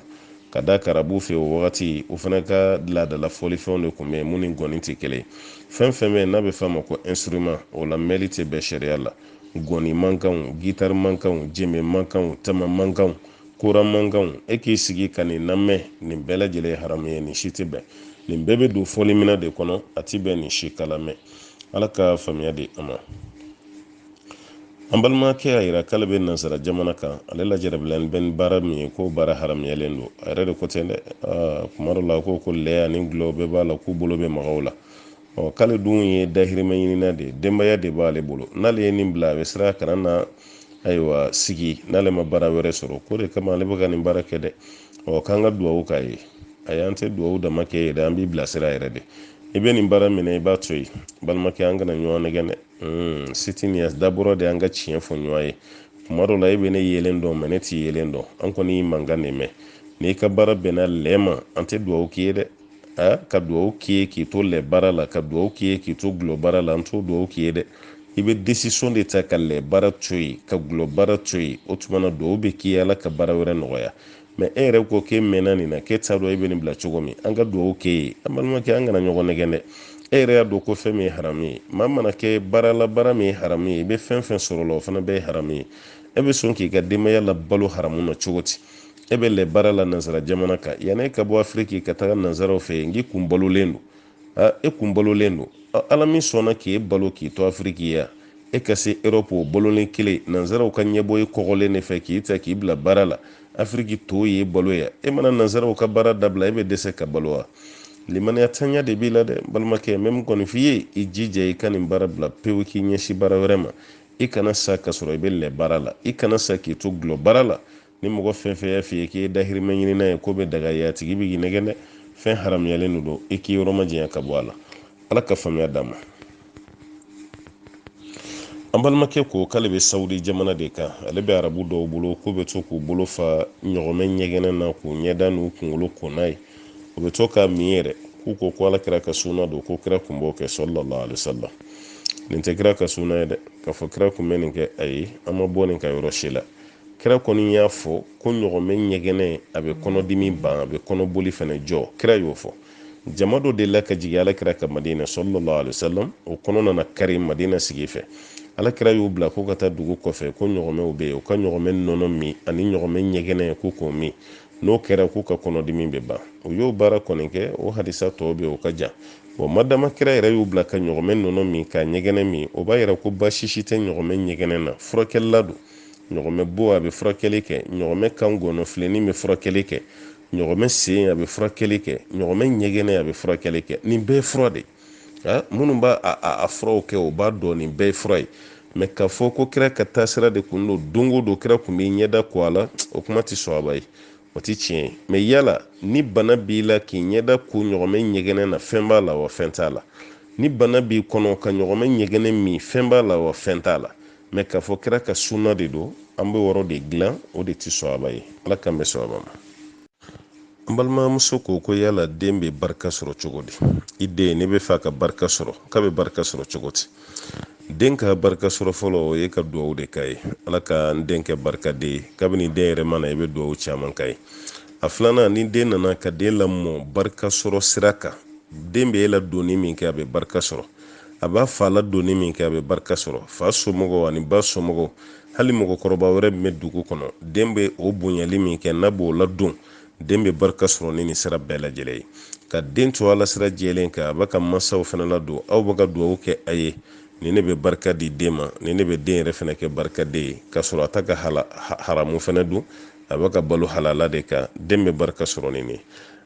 ka d'a kan arabu fɛ o wagati o fana ka laadala fɔlifɛnw de tun bɛ yen mun ni gɔni tɛ kelen fɛn fɛn bɛ yen n'a bɛ f'a ma ko instrument o lamɛnli tɛ bɛn sariya la gɔni mankanw gitari mankanw jeme mankanw tama mankanw kora mankanw e k'i sigi ka nin lamɛn nin bɛɛ lajɛlen ye haramu ye nin si tɛ bɛn nin bɛɛ bɛ don fɔliminɛn de kɔnɔ a tɛ bɛn nin si ka lamɛn ala ka faamuya di an ma an balimakɛ y'a yira k'ale bɛ nansara jamana kan ale lajarabilen bɛ ni baara min ye k'o baara haramuyalen don a yɛrɛ de ko ten dɛ kuma dɔ la ko ko lɛ ani gulɔ bɛɛ b'a la k'u bolo bɛ mag'u la ɔ k'ale dun ye dahirimɛ ɲinina de ye denbaya de b'ale bolo n'ale ye nin bila a bɛ siran kana na ayiwa sigi n'ale ma baara wɛrɛ sɔrɔ k'o de kama ale bɛ ka nin baara kɛ dɛ ɔ k'an ka duwawu k'a ye ayi an tɛ duwawu dama k'i ye dɛ an b'i bilasira yɛrɛ de i bɛ nin baara min na i b'a to yen balimakɛ an kana ɲɔgɔn nɛgɛn dɛ hmm, siti nin dabɔra de an ka tiɲɛ fɔ ɲɔgɔn ye kuma dɔ la e bɛ ne yelen dɔn mɛ ne t'i yelen dɔn an kɔni y'i mankan de mɛn n'i ka baara bɛnna lɛ ma an tɛ duwawu k'i ye dɛ aa ka dugawu k'i ye k'i to lɛ baara la ka dugawu k'i ye k'i to gulɔ baara la an t'o dugawu k'i ye dɛ i bɛ desisɔn de ta ka lɛ baara to yen ka gulɔ baara to yen o tuma na dugawu bɛ k'i ye ala ka baara wɛrɛ nɔgɔya mɛ e yɛrɛ ko k'e mɛnna nin na k'e t'a dɔn e bɛ nin bila cogo min an ka dugawu k'e ye an balimakɛ an kana ɲɔgɔn nɛgɛn dɛ e yɛrɛ y'a dɔn ko fɛn min ye haramu ye maa mana kɛ baara la baara min ye haramu ye i bɛ fɛn fɛn sɔrɔ o la o fana bɛɛ ye haramu ye e bɛ sɔn k'i ka denbaya labalo haramu na cogo di e bɛ lɛ baara la nansara jamana kan yanni e ka bɔ afiriki ka taga nansaraw fɛ yen k'i kun balolen don a e kun balolen don ala min sɔnna k'e balo k'i to afiriki ya e ka se erɔpu o balolen kɛlen nansaraw ka ɲɛbɔ e kɔgɔlen de fɛ k'i ta k'i bila baara la afiriki to y'e balo ya e mana nansaraw ka baara dabila e bɛ dɛsɛ ka balo wa limaniya tanya de b'i la dɛ balimakɛ n bɛ min kɔni f'i ye i jija i ka nin baara bila pewu k'i ɲɛsin baara wɛrɛ ma i kana sa ka sɔrɔ i bɛ lɛ baara la i kana sa k'i to gulɔ baara la ni mɔgɔ fɛn fɛn y'a f'i ye k'i ye dahirimɛ ɲinina ye k'o bɛ daga ye a tigi bɛ k'i nɛgɛn dɛ fɛn haramuyalen de don i k'i yɔrɔ majanya ka bɔ a la ala ka faamuya d'an ma an balimakɛ ko k'ale bɛ sawudi jamana de kan ale bɛ arabu dɔw bolo k'u bɛ to k'u bolo fa ɲɔgɔmɛ ɲɛgɛnɛ na k'u ɲɛda n'u kunkolo ko n'a ye u bɛ to k'a min yɛrɛ k'u ko ko ala kira ka sunna don ko kira kun b'o kɛ sallallahu alaihi wasallam nin tɛ kira ka sunna ye dɛ k'a fɔ kira kun bɛ nin kɛ ayi an ma bɔ nin kan yɔrɔ si la kira kɔni y'a fɔ ko ɲɔgɔmɛ ɲɛgɛnɛ a bɛ kɔnɔdimi ban a bɛ kɔnɔboli fana jɔ kira y'o fɔ jama dɔ delila ka jigin alakira kan madina sallallahu alaihi wasallam o kɔnɔ nana kari madina sigi fɛ alakira y'u bila ko ka taa dugu kɔfɛ ko ɲɔgɔmɛw bɛ yen u ka ɲɔgɔmɛ nɔnɔ min ani ɲɔgɔmɛ ɲɛgɛnɛ ko k'o min n'o kɛra k'u ka kɔnɔdimi bɛ ban u y'o baara kɔni kɛ o hadisa tɔw bɛ o ka jan bɔn madama kira yɛrɛ y'u bila ka ɲɔgɔmɛ nɔnɔ min ka ɲɛgɛnɛ min o b'a yira ko baasi si tɛ ɲɔgɔmɛ ɲɛgɛnɛ na furakɛlilan don ɲɔgɔmɛ bo a bɛ furakɛli kɛ ɲɔgɔmɛ kan gɔnɔfilenin bɛ furakɛli kɛ ɲɔgɔmɛ sen a bɛ furakɛli kɛ ɲɔgɔmɛ ɲɛgɛnɛ a bɛ furakɛli kɛ nin bɛɛ ye fura de minnu b'a a furaw kɛ o b'a dɔn nin bɛɛ ye fura ye mɛ k'a fɔ ko kira ka taasira de kun don don o don kira kun b'a ɲɛda ko a la o kuma tɛ sawaba ye o tɛ tiɲɛ ye mɛ yala ni bana b'i la k'i ɲɛda ko ɲɔgɔmɛ ɲɛgɛnɛ na fɛn b'a la wa fɛn t'a la ni bana b'i kɔnɔ ka ɲɔgɔmɛ ɲɛgɛnɛ min fɛn b'a la wa fɛn t'a la mɛ k'a fɔ kira ka sunna de don an b'o yɔrɔ de dilan o de tɛ sawaba ye ala k'an bɛn sawaba ma an balimamuso ko ko yala den bɛ barika sɔrɔ cogo di i den ne b'a fɛ a ka barika sɔrɔ k'a bɛ barika sɔrɔ cogo di den ka barika sɔrɔ fɔlɔ o ye ka dugawu de k'a ye ala ka n den kɛ barikaden ye kabini den yɛrɛ ma na i bɛ dugawu caman k'a ye a filanan ni den nana ka den lamɔ barika sɔrɔ sira kan den bɛ e ladonni min kɛ a bɛ barika sɔrɔ a b'a fa ladonni min kɛ a bɛ barika sɔrɔ fa somɔgɔw ani ba somɔgɔw hali mɔgɔkɔrɔba wɛrɛ min bɛ dugu kɔnɔ den bɛ o bonyali min kɛ n'a b'o ladon den bɛ barika sɔrɔ ni nin sira bɛɛ lajɛlen ye ka den to ala sira jɛlen kan a bɛ k'a mansaw fana ladon aw bɛ ka dugawu kɛ a ye nin ne bɛ barika di den ma nin ne bɛ den yɛrɛ fana kɛ barikaden ye ka sɔrɔ a tɛ ka haramu fana dun a bɛ ka balo halala de kan den bɛ barika sɔrɔ ni nin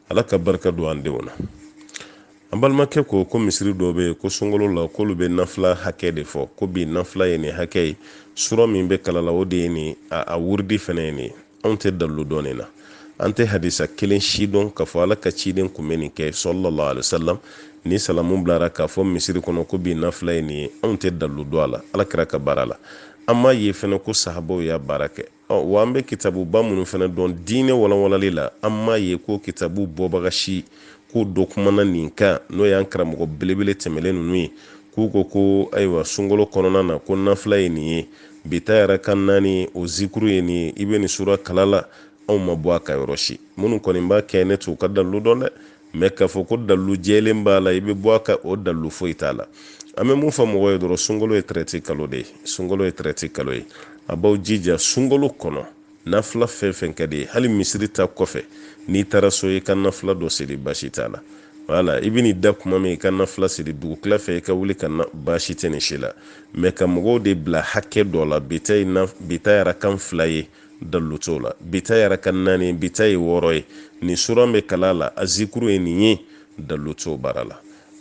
ala ka barika don an denw na An balimakɛ ko ko misiri dɔ bɛ yen ko sunkalo la k'olu bɛ nafila hakɛ de fɔ ko bi nafila ye nin hakɛ ye sura min bɛ kalan a la o de ye nin a wuridi fana ye nin anw tɛ dalilu dɔn nin na an tɛ hadisa kelen si dɔn k'a fɔ ala ka ciden kun bɛ nin kɛ sallallahu alaihi wasallam ni salamu bilara k'a fɔ misiri kɔnɔ ko bi nafila ye nin ye anw tɛ dalilu dɔn a la ala kira ka baara la an m'a ye fana ko sahabaw y'a baara kɛ Wa an bɛ kitabuba minnu fana dɔn diinɛ walanwalali la an m'a ye ko kitabu bɔbaga si k'o dɔ kumana nin kan n'o y'an karamɔgɔ belebele tɛmɛlen ninnu ye k'u ko ko ayiwa sunkalo kɔnɔna na ko nafila ye nin ye bi ta ye raka naani ye o zikuru ye nin ye i bɛ nin sura kalan a la anw ma bɔ a kan yɔrɔ si minnu kɔni b'a kɛ ne t'u ka dalilu dɔn dɛ mɛ k'a fɔ ko dalilu jɛlen b'a la i bɛ bɔ a kan o dalilu foyi t'a la an bɛ mun fɔ mɔgɔw ye dɔrɔn sunkalo ye tɛrɛti kalo de ye sunkalo ye tɛrɛti kalo ye a b'aw jija sunkalo kɔnɔ nafila fɛn fɛn ka di i ye hali misiri ta kɔfɛ n'i taara so i ka nafila dɔ seli baasi t'a la wala i bɛn'i da kuma min i ka nafila seli dugutila fɛ i ka wuli ka baasi tɛ nin si la mɛ ka mɔgɔw de bila hakɛ dɔ la bi ta ye raka fila ye dalu t'o la bi ta ye raka naani bi ta ye wɔɔrɔ ye nin sura bɛ kalan a la a zikuru ye nin ye dalu t'o baara la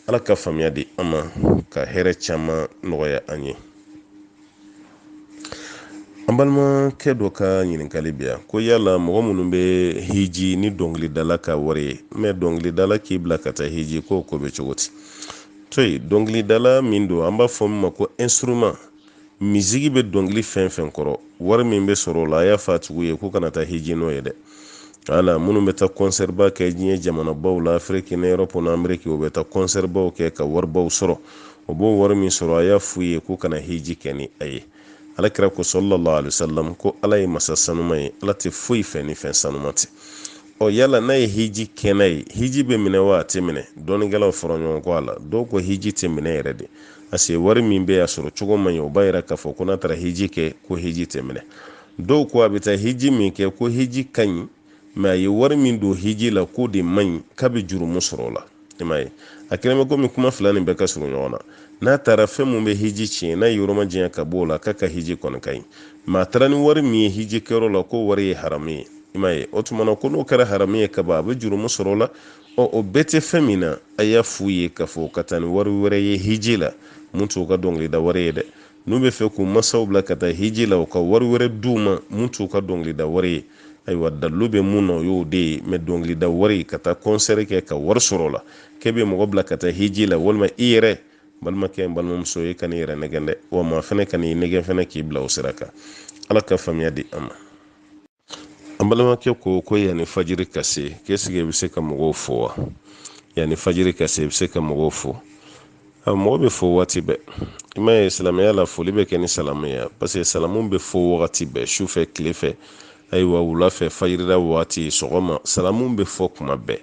ala ka faamuya di an ma ka hɛrɛ caman nɔgɔya an ye an balimakɛ dɔ ka ɲininkali bɛ yan ko yala mɔgɔ minnu bɛ hiji ni dɔnkilidala ka wari ye mɛ dɔnkilidala k'i bila ka taa hiji k'o ko bɛ cogo di to yen dɔnkilidala min don an b'a fɔ min ma ko instrument Misigi bɛ dɔnkili fɛn fɛn kɔrɔ wari min bɛ sɔrɔ o la a y'a fɔ a tigiw ye k'u kana taa hiji n'o ye dɛ wala minnu bɛ taa kɔnsɛriba kɛ diɲɛ jamanabaw la afiriki ni erɔpu ni ameriki u bɛ taa kɔnsɛribaw kɛ ka waribaw sɔrɔ u b'o wari min sɔrɔ a y'a f'u ye k'u kana hiji kɛ ni a ye alakira ko sallallahu alaihi wasallam ko ala ye masa sanuma ye ala tɛ foyi fɛ ni fɛn sanuma tɛ ɔ yala n'a ye hiji kɛ n'a ye hiji bɛ minɛ wa a tɛ minɛ dɔnnikɛlaw fɔra ɲɔgɔn kɔ a la dɔw ko hiji tɛ minɛ yɛrɛ de pase wari min bɛ a sɔrɔ cogo man ɲi o b'a yira k'a fɔ ko n'a taara hiji kɛ ko hiji tɛ minɛ dɔw ko a bɛ taa hiji min kɛ ko hiji ka ɲi mɛ a ye wari min don hiji la k'o de man ɲi k'a bɛ jurumu sɔrɔ o la i m'a ye a kɛlen bɛ komi kuma fila nin bɛɛ ka surun ɲɔgɔn na n'a taara fɛn min bɛ hiji tiɲɛ n'a y'i yɔrɔ majanya ka bɔ o la k'a ka hiji kɔni ka ɲi mɛ a taara ni wari min ye hiji kɛyɔrɔ la k'o wari ye haramu ye i m'a ye o tuma na ko n'o kɛra haramu ye kaban a bɛ jurumu sɔrɔ o la ɔ o bɛɛ tɛ fɛn min na a y'a f'u ye k'a fɔ ka taa ni wari wɛrɛ ye hiji la min t'u ka dɔnkilida wari ye dɛ n'u bɛ fɛ k'u masaw bila ka taa hiji la u ka wari wɛrɛ d'u ma min t'u ka dɔnkilida wari ye ayiwa dalilu bɛ min na o y'o de ye mɛ dɔnkilida wari ka taa kɔnsɛri kɛ ka wari sɔrɔ o la k'e bɛ mɔgɔ bila ka taa hiji la walima i yɛrɛ balimakɛ n balimamuso i kan'i yɛrɛ nɛgɛn dɛ wa maa fɛnɛ kan'i nɛgɛn fɛnɛ k'i bila o sira kan ala ka faamuya di an ma an balimakɛ ko ko yanni fajiri ka se k'ɛsike i bɛ se ka mɔgɔw fo wa yanni fajiri ka se i bɛ se ka mɔgɔw fo a mɔgɔ bɛ fo waati bɛɛ i m'a ye silamɛya la foli bɛ kɛ ni salamu ye paseke salamu bɛ fɔ wagati bɛɛ su fɛ tile fɛ ayiwa wula fɛ fajirida waati sɔgɔma salamu bɛ fɔ kuma bɛɛ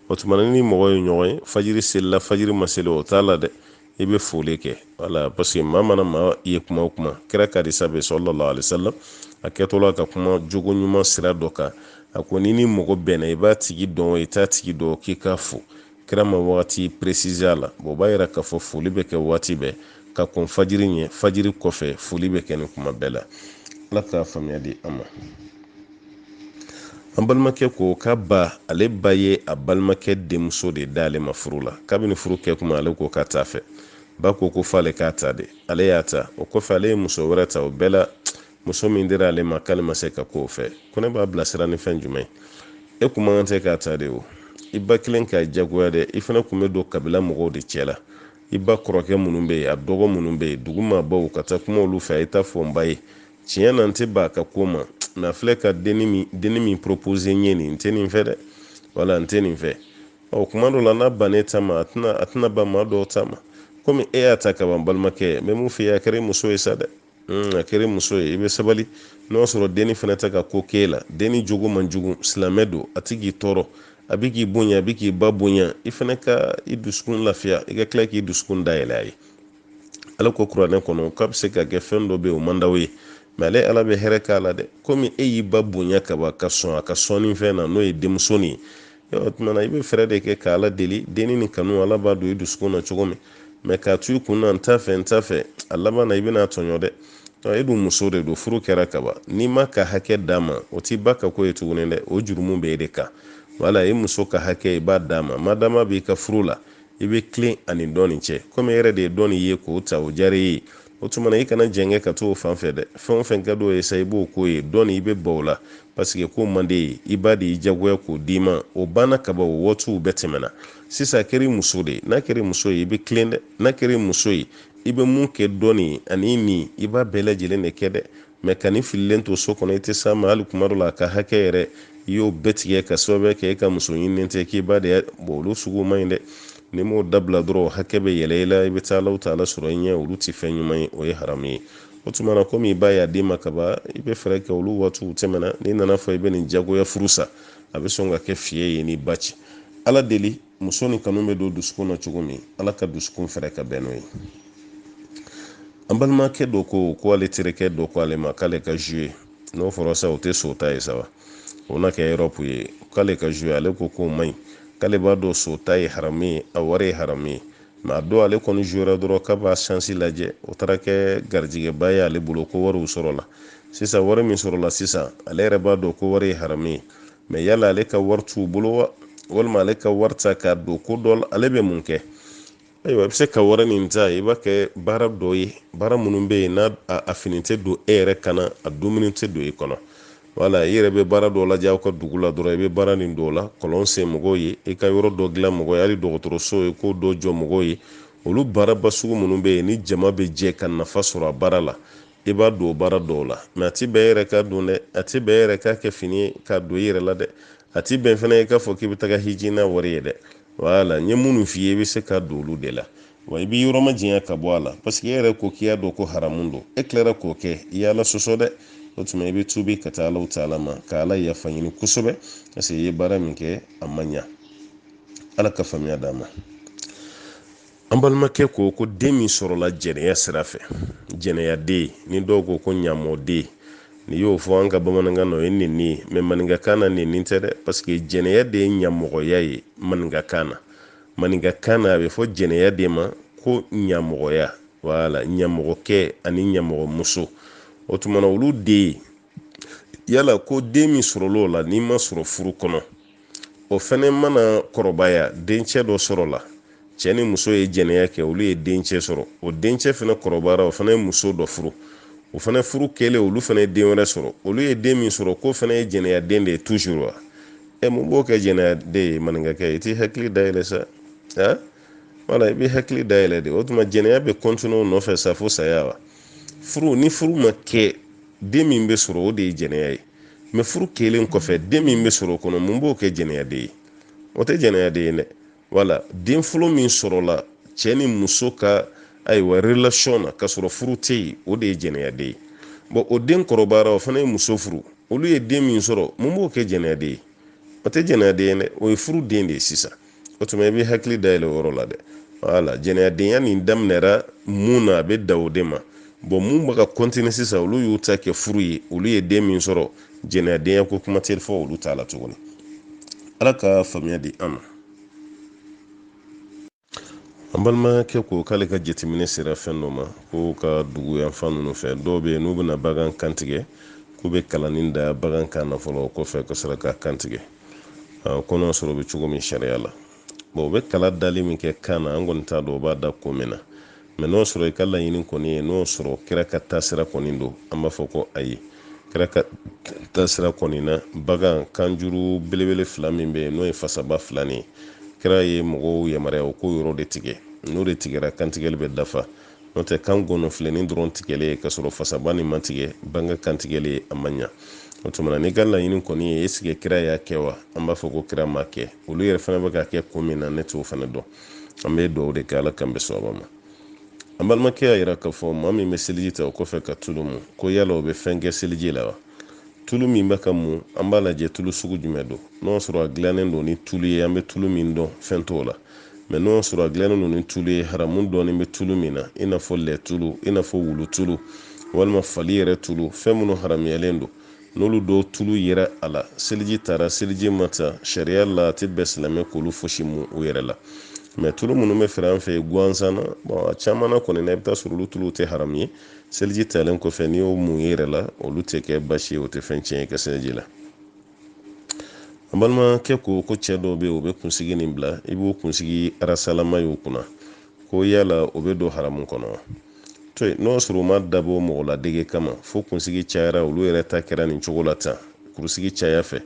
o tuma ni mɔgɔw ye ɲɔgɔn ye fajiri selila fajiri ma seli o t'a la dɛ i bɛ foli kɛ wala parce que maa mana maa ye kuma o kuma kira ka hadisa bɛ sallallahu alaihi wasallam a kɛtɔla ka kuma jogo ɲuman sira dɔ kan a ko n'i ni mɔgɔ bɛnna i b'a tigi dɔn i t'a tigi dɔn k'i k'a fo kira ma wagati préciser a la bon o b'a yira k'a fɔ foli bɛ kɛ waati bɛɛ ka kɔn fajiri ɲɛ fajiri kɔfɛ foli bɛ kɛ nin kuma bɛɛ la ala k'a faamuya di an ma an balimakɛ ko k'a ba ale ba ye a balimakɛ denmuso de d'ale ma furu la kabini furu kɛ kuma ale ko k'a t'a fɛ ba ko ko f'ale k'a ta de ale y'a ta o kɔfɛ ale ye muso wɛrɛ ta o bɛɛ la muso min dira ale ma k'ale ma se ka k'o fɛ ko ne b'a bilasira ni fɛn jumɛn ye e kun man kan tɛ k'a ta de o i ba kelen k'a jagoya dɛ i fana kun bɛ don kabila mɔgɔw de cɛ la i ba kɔrɔkɛ minnu bɛ yen a dɔgɔ minnu bɛ yen dugu maabaw ka taa kuma olu fɛ a ye t'a fɔ n ba ye tiɲɛ na n tɛ ban a ka ko ma mɛ a filɛ ka denni min denni min proposer n ye nin n tɛ nin fɛ dɛ wala n tɛ nin fɛ ɔ kuma dɔ la n'a bann'e ta ma a tɛna a tɛna ban maa dɔw ta ma komi e y'a ta ka ban balimakɛ ne bɛ mun f'i ye a kɛra muso ye sa dɛ hmm, a kɛra muso ye i bɛ sabali n'o y'a sɔrɔ denni fana tɛ ka ko k'e la denni jogo man jugu silamɛ don a tɛ k'i tɔɔrɔ a bɛ k'i bonya a bɛ k'i ba bonya i fana ka i dusukun lafiya i ka tila k'i dusukun dayɛlɛ a ye ala ko kuranɛ kɔnɔ k'a bɛ se ka kɛ fɛn dɔ bɛ yen o man d'aw ye mɛ ale ala bɛ hɛrɛ k'a la dɛ komi e y'i ba bonya kaban ka sɔn a ka sɔnni fɛn na n'o ye denmuso nin ye o tuma na i bɛ fɛɛrɛ de kɛ ka ala deli denni nin kanu ala b'a don i dusukun na cogo min mɛ k'a to i kun na n t'a fɛ n t'a fɛ a laban na i bɛn'a tɔɲɔ dɛ e dun muso de don furu kɛra kaban n'i m'a ka hakɛ d'a ma o t'i ba ka ko ye tuguni dɛ o jurumu bɛ e de kan wala e muso ka hakɛ i b'a d'a ma madama b'i ka furu la i bɛ tilen a ni dɔ nin cɛ komi e yɛrɛ de ye dɔ nin ye k'o ta o diyara e ye o tuma na i kana jɛngɛ ka t'o fan fɛ dɛ fɛn o fɛn ka d'o ye sa i b'o k'o ye dɔ nin i bɛ ban o la paseke k'o man d'e ye i ba de y'i jagoya k'o d'i ma o banna kaban o waatiw bɛɛ tɛmɛna sisan a kɛra i muso de ye n'a kɛra i muso ye i bɛ tilen dɛ n'a kɛra i muso ye i bɛ mun kɛ dɔ nin ani nin i b'a bɛɛ lajɛlen de kɛ dɛ mɛ ka nin fililen to so kɔnɔ i tɛ s'a ma hali kuma dɔ la a ka hakɛ yɛrɛ i y'o bɛɛ tigɛ k'a sababuya kɛ e ka muso ɲininen tɛ k'i ba de don olu sugu man ɲi dɛ n'i m'o dabila dɔrɔn hakɛ bɛ yɛlɛ i la i bɛ taa alahu taala sɔrɔ i ɲɛ olu tɛ fɛn ɲuman ye o ye haramu ye o tuma na komi i ba y'a d'i ma kaban i bɛ fɛɛrɛ kɛ olu waatiw tɛmɛna n'i nan'a fɔ i bɛ nin jagoya furu sa a bɛ sɔn ka kɛ fiɲɛ ye n'i ba cɛ ala deli muso nin kanu bɛ don dusukun na cogo min ala ka dusukun fɛrɛ ka bɛn n'o ye an balimakɛ dɔ ko ko ale terikɛ dɔ ko ale ma k'ale ka jouer n'o fɔra sa o tɛ so ta ye sa wa o na kɛ yɔrɔpu ye k'ale ka jouer ale ko k'o man ɲi k'ale b'a dɔn so ta ye haramu ye a wari ye haramu ye mɛ a don ale kɔni jouera dɔrɔn k'a b'a sansi lajɛ o taara kɛ garijɛgɛba ye ale bolo ko wariw sɔrɔla sisan wari min sɔrɔla sisan ale yɛrɛ b'a dɔn k'o wari ye haramu ye mɛ yala ale ka wari t'u bolo wa walima ale ka wari ta k'a don ko dɔ la ale bɛ mun kɛ ayiwa i bɛ se ka wari nin ta i b'a kɛ baara dɔ ye baara minnu bɛ yen n'a a fini tɛ don e yɛrɛ kan na a dumuni tɛ don i kɔnɔ wala i yɛrɛ bɛ baara dɔ lajɛ aw ka dugu la dɔrɔn i bɛ baara nin dɔw la kɔlɔn sen mɔgɔw ye i ka yɔrɔ dɔ dilan mɔgɔw ye hali dɔgɔtɔrɔso ye k'o dɔ jɔ mɔgɔw ye olu baaraba sugu minnu bɛ yen ni jama bɛ jɛ ka nafa sɔrɔ a baara la i b'a don baara dɔw la mɛ a ti bɛn e yɛrɛ k'a dun dɛ a ti bɛn e yɛrɛ k'a kɛ fini ye k'a don i yɛrɛ la dɛ a ti bɛn fana i k'a fɔ k'i bɛ taga hiji n'a wari ye dɛ wala n ye minnu f'i ye i bɛ se k'a don olu de la wa i b'i yɔrɔ majanya ka bɔ a la parce que e yɛrɛ ko k'i y'a dɔn ko haramu don e tilara k'o kɛ i y'ala sɔsɔ dɛ o tuma i bɛ tubi ka taa alahu taala ma ka ala yafa ɲini kosɛbɛ parce que i ye baara min kɛ a ma ɲa ala ka faamuya d'an ma an balimakɛ ko ko den min sɔrɔla jɛnɛya sira fɛ jɛnɛyaden nin dɔw ko ko ɲamɔden n'i y'o fɔ an ka bamanankan na o ye nenni ye mɛ maninkakan na nenni tɛ dɛ paseke jɛnɛya de ye ɲamɔgɔya ye maninkakan na maninkakan na a bɛ fɔ jɛnɛya de ma ko ɲamɔgɔya wala ɲamɔgɔkɛ ani ɲamɔgɔmuso o tumana olu de ye yala ko den min sɔrɔla o la n'i ma sɔrɔ furu kɔnɔ o fɛnɛ mana kɔrɔbaya dencɛ dɔ sɔrɔla cɛ ni muso ye jɛnɛya kɛ olu ye dencɛ sɔrɔ o dencɛ fɛnɛ kɔrɔbayara o fɛnɛ ye muso dɔ furu o fɛnɛ furu kɛlen olu fɛnɛ ye den wɛrɛ sɔrɔ olu ye den min sɔrɔ k'o fɛnɛ ye jɛnɛya den de ye toujours wa ɛ mun b'o kɛ jɛnɛya den ye maninkakɛ i t'i hakili dayɛlɛ sa a wala i b'i hakili dayɛlɛ dɛ o tuma jɛnɛya bɛ kɔntine o nɔfɛ sa fo saya wa furu ni furu ma kɛ den min bɛ sɔrɔ o de ye jɛnɛya ye mɛ furu kɛlen kɔfɛ den min bɛ sɔrɔ o kɔnɔ mun b'o kɛ jɛnɛyaden ye o tɛ jɛnɛyaden ye dɛ wala den fɔlɔ min sɔrɔla cɛ ni muso ka ayiwa relation na ka sɔrɔ furu tɛ yen o de ye jɛnɛyaden ye bɔn o den kɔrɔbayara o fana ye muso furu olu ye den min sɔrɔ mun b'o kɛ jɛnɛyaden ye o tɛ jɛnɛyaden ye dɛ o ye furu den de ye sisan o tuma i b'i hakili dayɛlɛ o yɔrɔ la dɛ wala jɛnɛyadenya nin daminɛra mun na a bɛ dan o de ma bɔn mun bɛ ka kɔntini sisan olu y'u ta kɛ furu ye olu ye den min sɔrɔ jɛnɛyadenya ko kuma tɛ fɔ olu ta la tuguni ala ka faamuya di an ma an balimakɛ ko k'ale ka jateminɛ sera fɛn dɔ ma k'u ka dugu yanfan ninnu fɛ dɔw bɛ yen n'u bɛna bagan kantigɛ k'u bɛ kalanin da bagan kan na fɔlɔ o kɔfɛ ka sɔrɔ k'a kantigɛ ko n'o sɔrɔ o bɛ cogo min sariya la bon u bɛ kala dali min kɛ kan na an kɔni t'a dɔn u b'a da ko min na mɛ n'o sɔrɔ i ka laɲini kɔni ye n'o sɔrɔ kira ka taasira kɔni don an b'a fɔ ko ayi kira ka taasira kɔni na bagan kanjuru belebele fila min bɛ yen n'o ye fasaba fila nin ye kira ye mɔgɔw yamaruya u k'o yɔrɔ de tigɛ n'o de tigɛra kantigɛli bɛ dafa n'o tɛ kan gɔnɔfilenin dɔrɔn tigɛlen ye k'a sɔrɔ fasaba nin ma tigɛ bagan kantigɛlen a ma ɲa o tuma na n'i ka laɲini kɔni ye esike kira y'a kɛ wa an b'a fɔ ko kira m'a kɛ olu yɛrɛ fana bɛ k'a kɛ ko min na ne t'o fana dɔn an bɛ duwawu de kɛ ala k'an bɛn sawaba ma an balimakɛ y'a yira k'a fɔ maa min bɛ seliji ta o kɔfɛ ka tulu mu ko yala o bɛ fɛn kɛ seliji la wa tulu min bɛ ka mu an b'a lajɛ tulu sugu jumɛn don n'o sɔrɔ a dilannen don ni tulu ye an bɛ tulu min dɔn fɛn t'o la mɛ n'o sɔrɔ a dilannen don ni tulu ye haramu dɔɔnin bɛ tulu min na i n'a fɔ lɛ tulu i n'a fɔ wulu tulu walima fali yɛrɛ tulu fɛn minnu haramuyalen don n'olu dɔw tulu yera a la seliji tara seliji ma ta sariya la a tɛ bɛn silamɛ k'olu fosi mun u yɛrɛ la mɛ tulu minnu bɛ feere an fɛ yen gansan na bon a caman na kɔni na i bɛ t'a sɔrɔ olu tuluw tɛ haramu ye seliji talen kɔfɛ n'i y'o mun i yɛrɛ la olu tɛ kɛ basi ye o tɛ fɛn tiɲɛ i ka seliji la an balimakɛ ko ko cɛ dɔw bɛ yen u bɛ kunsigi nin bila i b'u kunsigi arasalama y'u kun na ko yala o bɛ don haramu kɔnɔ wa to yen n'o sɔrɔ u m'a dabɔ mɔgɔ ladege kama fo kunsigi cayara olu yɛrɛ ta kɛra nin cogo la tan kunsigi caya fɛ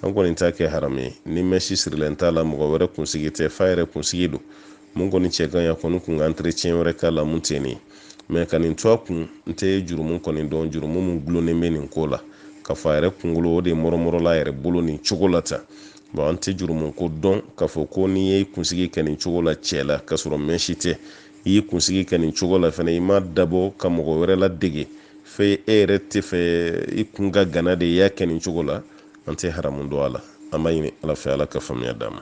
an kɔni t'a kɛ haramu ye ni mɛsi sirilen t'a la mɔgɔ wɛrɛ kunsigi tɛ f'a yɛrɛ kunsigi don mun kɔni cɛ ka ɲi a kɔni kun ka entretien wɛrɛ k'a la mun tɛ nin mɛ ka nin to a kun n tɛ jurumu kɔni dɔn jurumu mun gulonnen bɛ nin ko la k'a fɔ a yɛrɛ kunkolo o de mɔrɔmɔrɔla a yɛrɛ bolo nin cogo la tan bon an tɛ jurumu ko dɔn k'a fɔ ko n'i y'i kunsigi kɛ nin cogo la cɛ la k'a sɔrɔ mɛsi tɛ i y'i kunsigi kɛ nin cogo la fana i m'a dabɔ ka mɔgɔ wɛrɛ ladege fɛ e yɛrɛ tɛ fɛ i kun ka gana de i y'a kɛ nin cogo la an tɛ haramu dɔn a la an b'a ɲini ala fɛ ala ka faamuya d'an ma